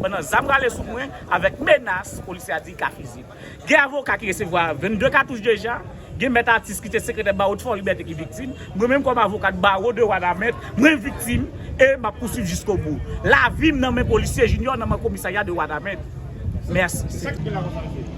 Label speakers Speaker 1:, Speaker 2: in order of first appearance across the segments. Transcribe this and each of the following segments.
Speaker 1: Pandan zam rale sou mwen, avèk menas, polisye a di li ka fizye m. Gen avoka ki resevwa 22 katouch deja, gen mèt atis ki te sekretè bawo de Fòlibète ki viktim, mwen menm kòm avokad bawo de Wanament, mwen viktim e m ap pouswiv jiskobou. Lavi m nan men polisye Jinyò nan men komisarya de Wanament. Mèsi.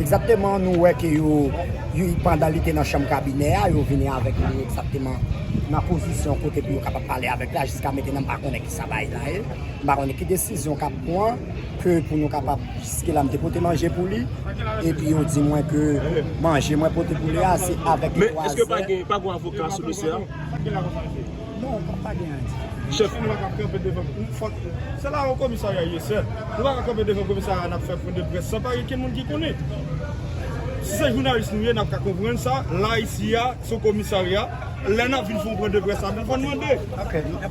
Speaker 2: Egzakteman nou wè ke yo pandan li te nan chanm kabinè a yo vini avèk li egzakteman nan pozisyon kote pou yo kapab pale avèk li a jiska mettenan m pa konnen kisa bagay la ye m pa konnen ki desizyon kap pran ke pou nou kapab jiske la m te pote manje pou li epi yo di mwen ke manje mwen pote pou li a se avèk 3 zè. Men eske pa gen pa
Speaker 3: gen avoka sou dosye a?
Speaker 2: Non, kòm pa gen anyen di. Chèf, nou pa ka
Speaker 3: kanpe devan pou fòk. Se la Haut Commissariat ye sèl. Nou pa ka kanpe devan komisarya nap fè pwen de près san pa gen kenn moun ki konnen. Si se jounalis nou ye nap ka konprann sa, la isi a se yon komisarya, lè nap vin fè yon pwen de près la nou konn mande.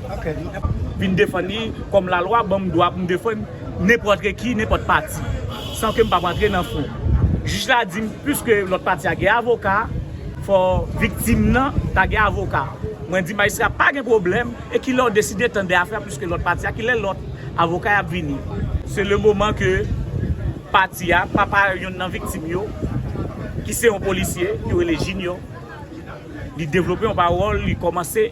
Speaker 3: vin
Speaker 1: defann li kòm lalwa ban m dwa pou m defann nenpòt reki, nenpòt pati, san ke m pa p rantre nan fon. Jij la di m, piske lòt pati a gen avoka, fò viktim nan ta gen avoka. Mwen di majistra a pa gen pwoblèm, e ki lè ou deside tande afè a piske lòt pati a, ki lè lòt avoka yo ap vini? Se le moman ke pati a, papa youn nan viktim yo, ki se yon polisye, yo rele Jinyò. Li devlope yon pawòl, li kòmanse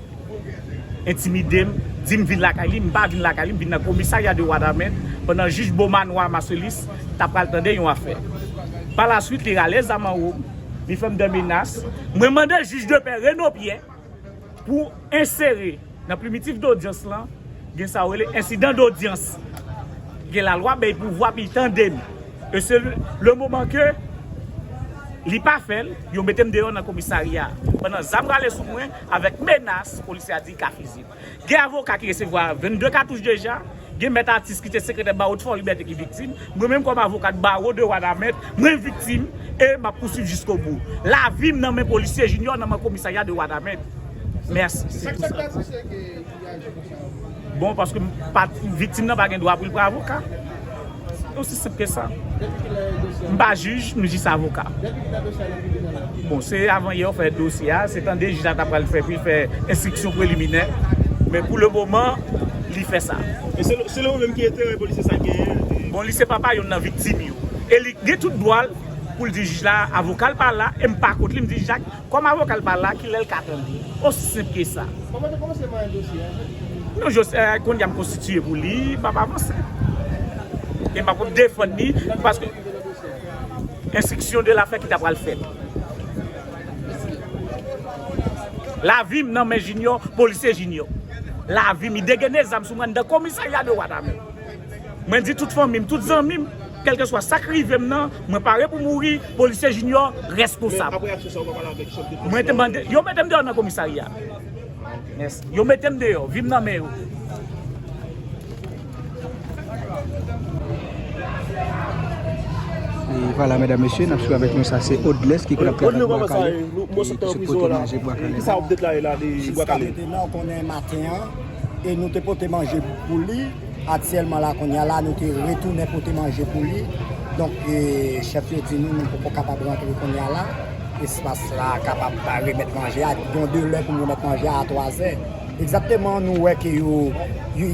Speaker 1: entimide m, di m vin lakay li, m pa vin lakay li, m vin nan komisarya de Wanament pandan jij Beaumanoir Marcellus ta pral tande yon afè. Pa la swit li rale zam an wo m, li fè m dè menas, mwen mande jij de pè Renaud Pierre pou ensere. Nan primitif dodyans lan, gen sa yo rele ensidan dodyans. Gen lalwa bèy pouvwa pi tande m. E se le moman ke li pa fè l, yo mete m deyò nan komisarya. Pandan zam rale sou mwen avèk menas, polisye a di ka fiziye m. Gen avoka ki resevwa 22 katouch deja. Gen mèt atis ki te sekretè bawo t Fòlibète ki viktim, mwen menm kòm avokat bawo de Wanament, mwen viktim e m ap pouswiv jiskobou. Lavi m nan men polisye Junior nan men komisarya de Wanament. Mèsi. Se tou sa. Bon, paske m pa viktim nan pa gen dwa pou l pran avoka. Se osi senp ke sa. M pa jij, m jis avoka. Bon, se avan yè ou fè dosye a, se tande jij la ta pral fè pou li fè enstriksyon preliminè. Men pou le moman, li fè sa. E selon ou menm
Speaker 3: ki enterè polisye sa genyen? Bon, li se papa youn nan
Speaker 1: viktim yo. E li gen tout dwa l pou l di jij la avoka l pa la e m pa kont li. M di jij la Kòm avoka l pa la ki lè l ka tande. Osi senp ke sa. Kòman te kòmanse
Speaker 3: manyen dosye a je?
Speaker 1: Non jose a kounye a m konstitiye pou li m ap avanse. E m ap defann li paske enstriksyon de la fè ki ta pral fèt. Lavi m nan men jinyò polisye jinyò. Lavi m li degene zam sou mwen anndan komisarya de Wanament. Mwen di tout fanmim, tout zanmim, kelkeswa sak rivem nan, mwen pare pou mouri, polisye Junior reskonsab.
Speaker 3: Mwen te mande, yo metem deyo
Speaker 1: nan komisarya. Yo metem deyo, vim nan men yo.
Speaker 4: Vala mèdam mesye, nap sou avèk nou sa se Odles ki konap kèdèk Bwa Kale,
Speaker 3: ki se pote manje Bwa Kale.
Speaker 2: E nou te pote manje pou li. Aktyèlman la kounye a la nou te retounen pote manje pou li. Donk chèf yo di nou nou poko kapab rantre kounye a la. Espas la kapab pa remèt manje a. Gen yon delè pou remèt manje a a 3 zè. Egzakteman nou wè ke yo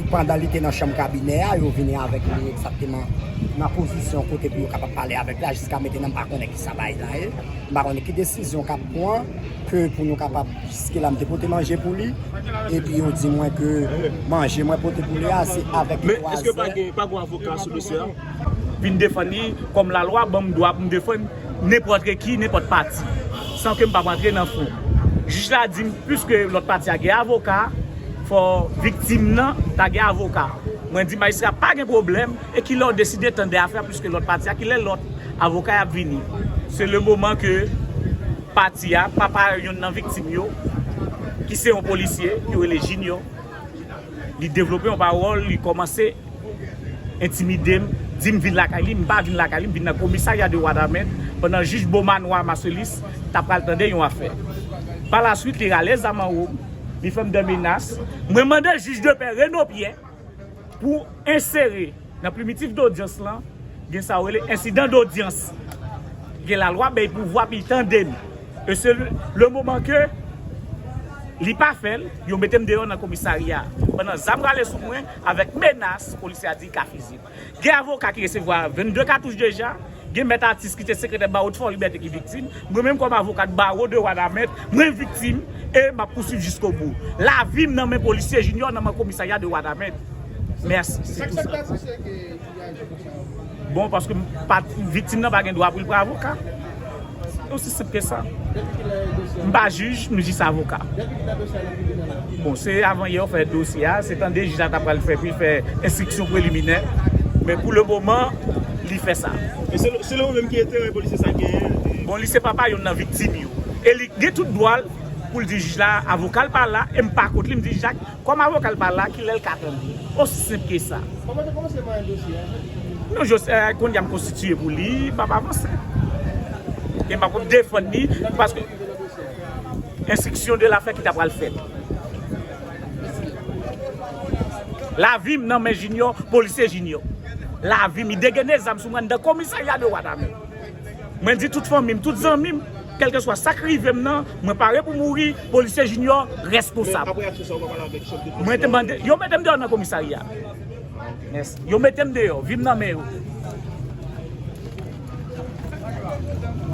Speaker 2: pandan li te nan chanm kabinè a yo vini avèk li egzakteman nan pozisyon kote pou yo kapab pale avèk la. Jiska metena m pa konnen kisa bagay la ye. M pa konnen ki desizyon kap pran ke pou nou kapab Jiske la m te pote manje pou li, epi yo di mwen ke manje mwen pote pou li a se avèk yon vwazen. Men, eske pa gen, pa
Speaker 5: gen yon avoka sou dosye a? Vin defann
Speaker 1: li, kòm lalwa ban m dwa pou m defann nenpòt reki, nenpòt pati, san ke m pap rantre nan fon. Jij la di m, piske lòt pati a gen avoka, fò viktim nan ta gen avoka. Mwen di majistra a, pa gen pwoblèm, e ki lè w deside tande afè a, piske lòt pati a, ki lè lòt avoka y ap vini? Se le moman ke. pati a, papa youn nan viktim yo, ki se yon polisye, yo rele Jinyò, li devlope yon pawòl, li kòmanse entimide m, di m vin lakay li, m pa vin lakay li, m vin nan komisarya de Wanament, pandan jij Bomanoir Marcellus ta pral tande yon afè. Palaswit, li rale zam anwo m, li fè m de menas, mwen mande jij de pè Reno Pyè, Pou ensere nan primitif dodyans lan, gen sa yo rele ensidan dodyans. Gen lalwa bèy pouvwa pi tande m. E se le moman ke li pa fè l, yo mete m deyò nan komisarya. Pandan zam rale sou mwen avèk menas, polisye a di ka fiziye m. Gen avoka ki resevwa 22 katouch deja, gen mèt atis ki te sekretè bawo Ti Fòlibète ki viktim, mwen menm kòm avokat bawo de Wanament, mwen viktim e m ap pouswiv jiskobou. Lavi m nan men polisye Junior nan men komisarya de Wanament. Mèsi. Se tou sa. Bon, paske m pa viktim nan pa gen dwa pou l pran avoka. Se osi senp ke sa. M pa jij, m jis avoka. Bon, se avan yè ou fè dosye a, se tande jij la ta pral fè pou li fè enstriksyon preliminè. Men pou le moman, li fè sa. E selon ou menm
Speaker 5: ki enterè polisye sa genyen? Bon, li se papa
Speaker 1: youn nan viktim yo. E li gen tout dwa l pou l di jij la avoka l pa la e m pa kont li. M di jij la Kòm avoka l pa la, ki lè l ka tande? Osi senp ke sa. Kòman te kòmanse
Speaker 6: manyen dosye a, Joseph? Non
Speaker 1: Jos, kounye a m konstitiye pou li, m ap avanse. E m ap defann li, paske. Enstriksyon de lafè ki ta pral fèt. Lavi m nan men Jinyò, polisye Jinyò. Lavi m, li degaine zam sou mwen anndan komisarya de Wanament. Mwen di tout fanmim, tout zanmim, kelkeswa sak rivem nan, mwen pare pou mouri, polisye Junior reskonsab. Mwen te mande, yo metem deyo nan komisarya. Yo metem deyo, vim nan men yo.